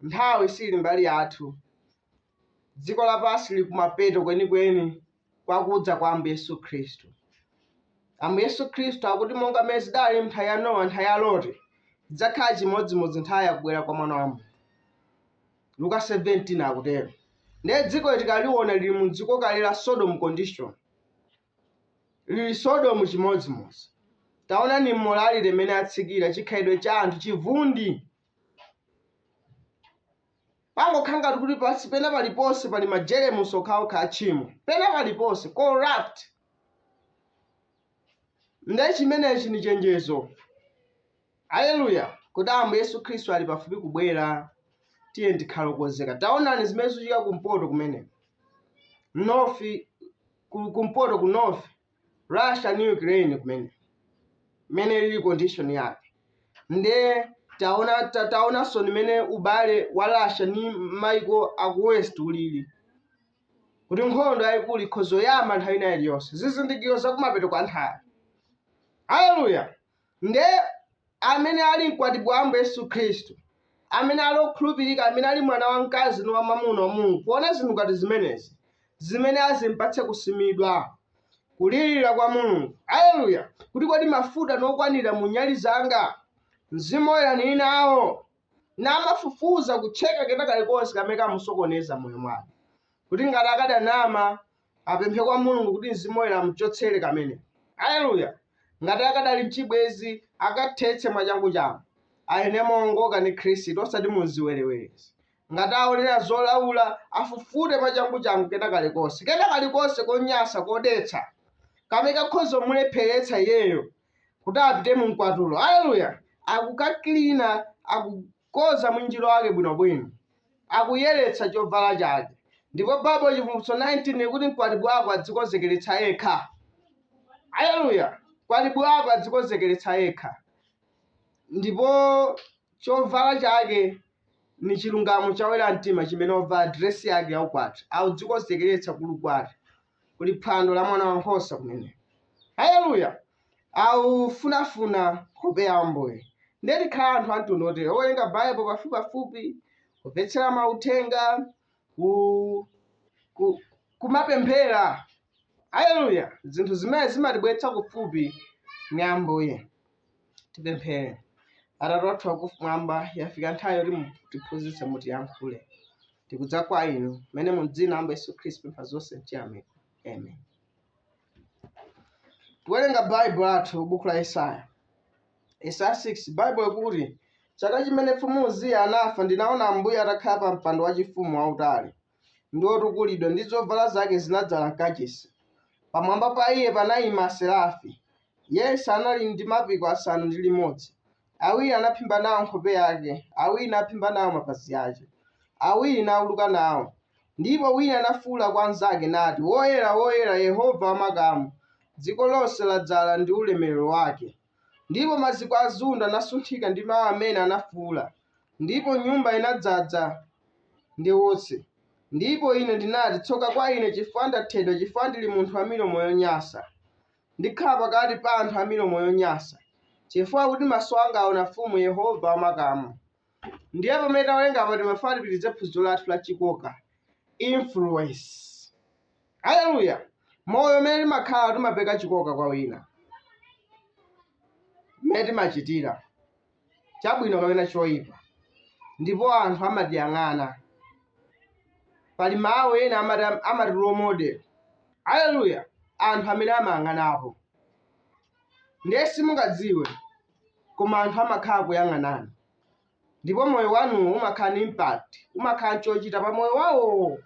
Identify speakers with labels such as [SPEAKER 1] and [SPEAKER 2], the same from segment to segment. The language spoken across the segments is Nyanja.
[SPEAKER 1] Nthawi siili mbali yathu. Dziko lapansi lili kumapeto kwenikweni kwa kudza kwa Ambuye Yesu Khristu. Ambuye Yesu Khristu akuti monga mmene zidali m'nthawi ya Nowa, nthawi ya Loti, zidzakhala chimodzimodzi nthawi ya kubwera kwa Mwana wa Munthu. Luka 17 akutero. Ndiye dzikoli tikaliwona lili mu dziko kale la Sodom condition. Lili Sodomu chimodzimodzi. Taonani m'morality mmene atsikira, chikhalidwe cha anthu, chivundi. pangokhala ngati kuti pansi pena paliponse pali majeremusi okhaokha atchimo pena paliponse corrupt nde chimenechi ni chenjezo aleluya kuti ambuye yesu khristu ali pafupi kubwera tiye tikhale okonzeka taonani zimene zikuchitika kumpoto kumene north ku- kumpoto ku north Russia ndi Ukraine kumene mmene lili condition yake nde taona ta, taonanso ni mmene ubale wa Russia ni maiko aku west ulili kuti nkhondo yayikulu ikhoza yamba nthawi ina iliyonse zizindikiro zakumapeto kwa nthawi haleluya Nde amene ali mkwatibwi wa Ambuye Yesu Khristu, amene ali okhulupirika, amene ali mwana wamkazi ndi wamwamuna wa Mulungu, poona zinthu ngati zimenezi, zimene azimpatse kusimidwa, kulirira kwa Mulungu, Aleluya, kuti kodi mafuta nokwanira mu nyali zanga? Mzimu Woyera nili nawo, namafufuza kutcheka kena kalikonse kamene kamsokoneza moyo mwake, kuti ngati akadanama, apemphe kwa mulungu kuti mzimu woyera amchotsere kamene aleluya ngati akadali mchibwezi akathetse mwachangu changu ayene moongoka ndi khristu osati mu ziwerewerezi ngati aonera zolaula afufute mwachangu changu kena kalikonse kena kalikonse konyasa kodetsa kamene kakhoza mulepheretsa iyeyo kuti apite mu mkwatulo aleluya akukakilina aku koza mwinjiro wake bwinobwino. Akuyeretsa chovala chake. Ndipo Bible Chivumbulutso 19 ikuti mkwatibwi wako adzikonzekeretsa yekha. Aleluya! Mkwatibwi wako adzikonzekeretsa yekha. Ndipo chovala chake ni chilungamo cha oyera mtima chimene ovala diresi yake yaukwati. Akudzikonzekeretsa kuli ukwati. kuli phwando la mwana wankhosa kumene. Haleluya! Aufunafuna nkhope ya Ambuye. Ndiye tikhale anthu amtundu otere, owerenga Bible pafupipafupi, kumvetsera mauthenga, ku, ku, kumapemphera. Haleluya! Zinthu zimene zimatibweretsa kufupi ni Ambuye. Tipemphere. Atate wathu wakumwamba, yafika nthawi yoti mutiphunzitse, mutiyankhule. Tikudza kwa inu mmene mu dzina la Ambuye Yesu Khristu pempha zonse mchiyamiko. Amen. Tiwerenga Baibulo lathu buku la Yesaya. Yesaya 6 Baibulo ikuti, chaka chimene mfumu Uziya anafa ndinaona Ambuye atakhala pa mpando wachifumu wautali, ndi wotukulidwa, ndi zovala zake zinadzala m'kachisi. Pamwamba pa iye panayima aserafi. Yense anali ndi mapiko asanu ndi limodzi. Awiri anaphimba nawo nkhope yake, awiri naphimba nawo mapazi ake, awiri nauluka nawo. Ndipo wina anafuula kwa nzake, nati, Woyera, woyera, Yehova wa makamu, dziko lonse ladzala ndi ulemerero wake. Ndipo maziko a ziundo anasunthika ndi mawu amene anafuula, ndipo nyumba inadzadza ndi utsi. Ndipo ine ndinati, Tsoka kwa ine, chifukwa ndathedwa, chifukwa ndili munthu wa milomo yonyansa. Ndikhala pakati pa anthu a milomo yonyansa, chifukwa kuti maso anga aona Mfumu Yehova wa makamu. ndiye pamene tawerenga apa timafuna tipitirize phunziro lathu la chikoka influence haleluya moyo umene timakhala timapereka chikoka kwa wina mmene timachitira chabwino kapena choyipa ndipo anthu amatiyang'ana pali mawu ena amati role model haleluya anthu amene amayang'anapo ndiye simungadziwe koma anthu amakhala kuyang'anani ndipo moyo wanu umakhala ni impact umakhala nchochita pa moyo wawo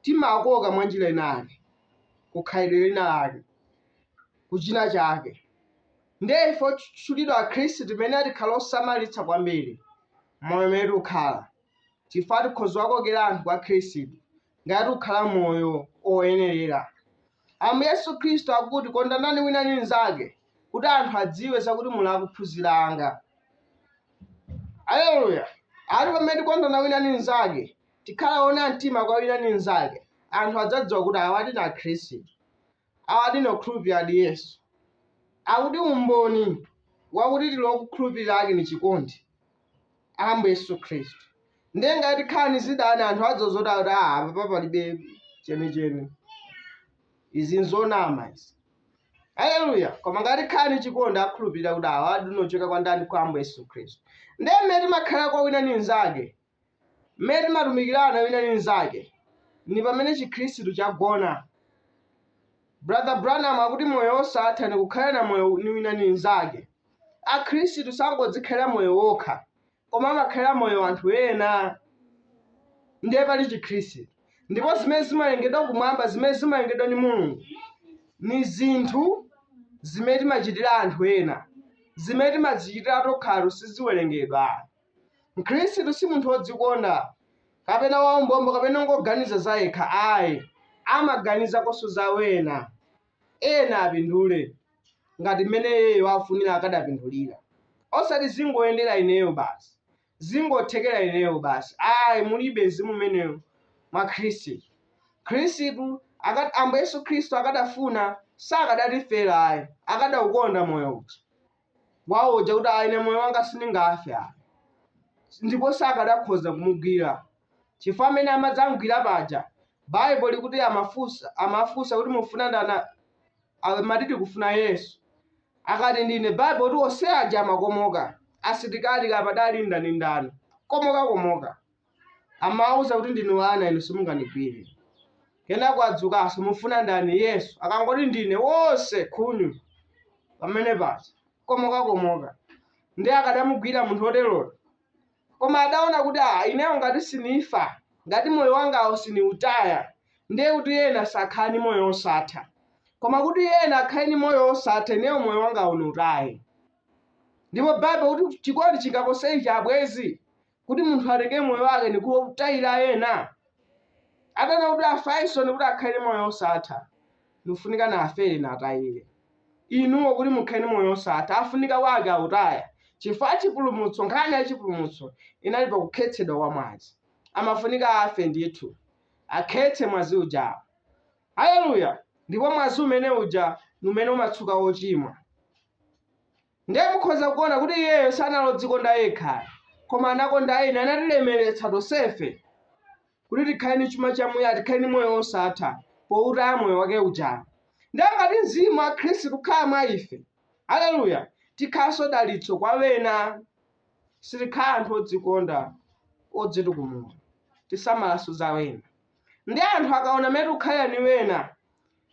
[SPEAKER 1] timakoka mwa njira inayake kukhalidwe lina lake kuchina chake ndiye ife otchulidwa akhristu timayenera tikhale osamalitsa kwambiri moyo umene tikukhala chifukwa tikhoza kuwakokera anthu kwa khristu ngati tikukhala moyo oyenerera ambuye yesu khristu akuti kondanani wina ndi mnzake kuti anthu adziwe zakuti muli ophunzira anga aleluya ati pamene tikondana wina ndi mnzake tikhala ona mtima kwa wina ndi mnzake anthu adzadziwa kuti awadi ni akhristu Awadi ni okhulupiliradi Yesu. Akuti umboni wakuti tili okhulupilila ake ni cikondi Ambuye Yesu Khristu. Ndiye ngati tikhala ni zidani anthu adziwa zoti akuti aa apapa palibe ceniceni. Izi n'zonama izi. Aleluya! Koma ngati tikhala ni cikondi akhulupilila kuti awadi ni ocokela kwa ndani? Kwa Ambuye Yesu Khristu. Ndiye mmene timakhala kwa wina ni mnzake Mmene timatumikilana wina ndi mnzake ni pamene Cikhristu cagona. Brother Branham akuti moyo wosatha ni kukhala na moyo ni wina ni mnzake. Akhristu sangodzikhalila moyo wokha, koma amakhalila moyo anthu ena. Ndiye pali Cikhristu. Ndipo zimene zimawelengedwa kumwamba, zimene zimawelengedwa ni Mulungu, ni zinthu zimene timacitila anthu ena. Zimene timadzicitila tokha siziwelengedwa. Mkhristu si munthu wodzikonda, kapena waumbombo kapena ongoganiza zayekha ayi. Amaganizakonso za wena. Ena apindule ngati mmene iyeyo afunira akadapindulira. Osati zingoyendera ineyo basi, zingothekera ineyo basi ayi mulibe mzimu umenewo mwa Khristu. Khristu Ambuye Yesu Khristu akadafuna sakadatifera ayi, akadaukonda moyo uja. wawo uja kuti ayi ine moyo wanga sindingafe ayi ndipo sakadakhoza kumugwira chifukwa amene amadzamgwira paja baibo likuti amafunsa amafunsa kuti mufuna ndani amati tikufuna yesu akati ndine baibo kuti onse aja amakomoka asilikali kapadali ndani ndani komoka komoka Amawauza kuti, Ndinu wana, inu simungandigwire. Kenako adzukanso, Mufuna ndani? Yesu. Akangoti ndine, wonse khunyu pamene paja komokakomoka. Ndiye akadamugwira munthu woteroyo? Koma adaona kuti, Aa, ineyo ngati sinifa, ngati moyo wangawo siniutaya, ndiye kuti ena sakhala ni moyo wosatha. Koma kuti yena akhale ni moyo wosatha, ineyo moyo wangawo niutaye. Ndipo Baibulo kuti chikondi chingapose ichi abwenzi? kuti munthu atenge moyo wake ni kuutayira yena? Atanena kuti afaenso ni kuti akhale ni moyo wosatha, nifunika nafere natayire. Inuo kuti mukhale ni moyo wosatha afunika wake autaya, chifukwa chipulumutso, nkhani ya chipulumutso inali pa kukhetsedwa kwa mwazi. Amafunika afe ndithu, akhetse mwazi uja. Aleluya! Ndipo mwazi umene uja ni umene umatsuka ochimwa. Ndiye mukhoza kuona kuti iyeyo sanali odzikonda yekha ayi, koma anakonda ena, anatilemeretsa tonsefe kuti tikhale ni chuma chamuyaya, tikhale ni moyo wosatha poutaya moyo wake uja. Ndiye ngati Mzimu wa Khristu ukhala mwa ife, aleluya, tikhalanso dalitso kwa wena, sitikhala anthu odzikonda, odzitukumula, tisamalanso za wena. Ndiye anthu akaona mmene tikukhalira ni wena,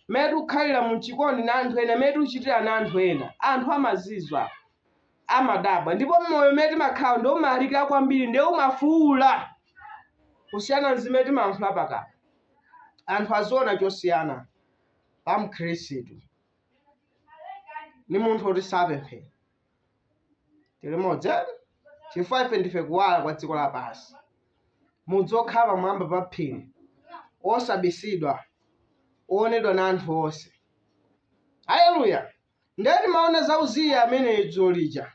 [SPEAKER 1] mmene tikukhalira muchikondi na anthu ena, mmene tikuchitira na anthu ena, anthu amazizwa, amadabwa. Ndipo moyo umene timakhala ndiwo umalalikira kwambiri, ndiye umafuula kusiyana ni zimene timayankhula pakamwa. Anthu aziona chosiyana pa Mkhristu ni munthu woti sapemphera. tilimodzi ati chifukwa ife ndife kuwala kwa dziko lapansi mudzi wokhala pamwamba pa phiri osabisidwa owonedwa na anthu onse haleluya ndiye timaona za uziya amene dzulo lija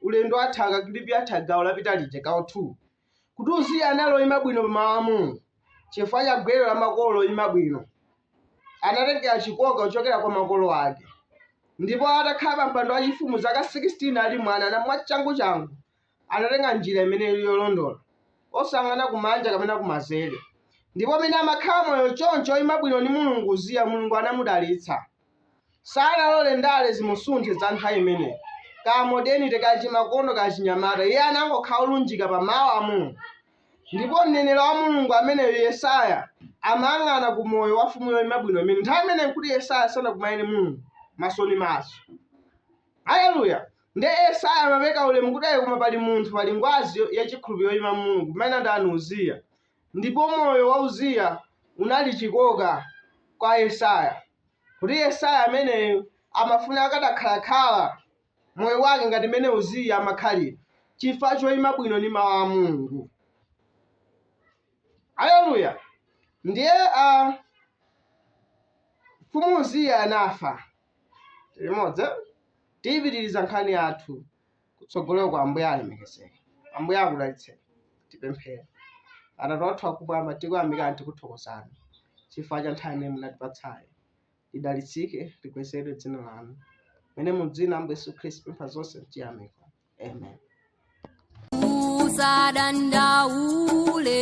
[SPEAKER 1] ulendo watha kakilipi katha gawo lapita lija gawo 2 kuti uziya anali oyima bwino pamawu a mulungu chifukwa cha gwero la makolo oyima bwino anatengera chikoka kuchokera kwa makolo ake ndipo atakhala pa mpando wachifumu zaka 16 ali mwana na mwachangu changu anatenga njira imene ili yolondola osang'ana kumanja kapena kumanzere ndipo mmene amakhala moyo choncho oyima bwino ni mulungu uziya mulungu anamudalitsa sanalole ndale zimusunthe za nthawi imeneyi, ka modernity ka chimakono ka chinyamata. Iye anangokhala olunjika pa Mawu a Mulungu. Ndipo mneneri wa Mulungu ameneyo Yesaya amayang'ana ku moyo wa mfumu yoyima bwino imene nthawi imeneyi nkuti Yesaya sanakumane Mulungu maso ni maso. Haleluya! Ndiye Yesaya amapeka ulemu kuti ayi koma pali munthu pali ngwazi yo- yachikhulupiriro yoyima Mulungu kumene ndi ndani Uziya. Ndipo moyo wa Uziya unali chikoka kwa Yesaya, kuti Yesaya ameneyu amafuna akadakhalakhala moyo wake ngati mmene Uziya amakhalira, chifukwa choima bwino ni mawu a Mulungu. Aleluya! Ndiye a mfumu Uziya anafa. Tilimodzi, tiyipitiriza nkhani yathu. kutsogoloko ambuye alemekezeke ambuye akudalitseni tipemphere atate athu akumwamba tikuyamikani tikuthokozani chifukwa cha nthawi imene munatipatsayi lidalitsike likwezedwe dzina lanu mene mu dzina ambuye yesu khristu pempha zonse mchiyamiko
[SPEAKER 2] amen usadandaule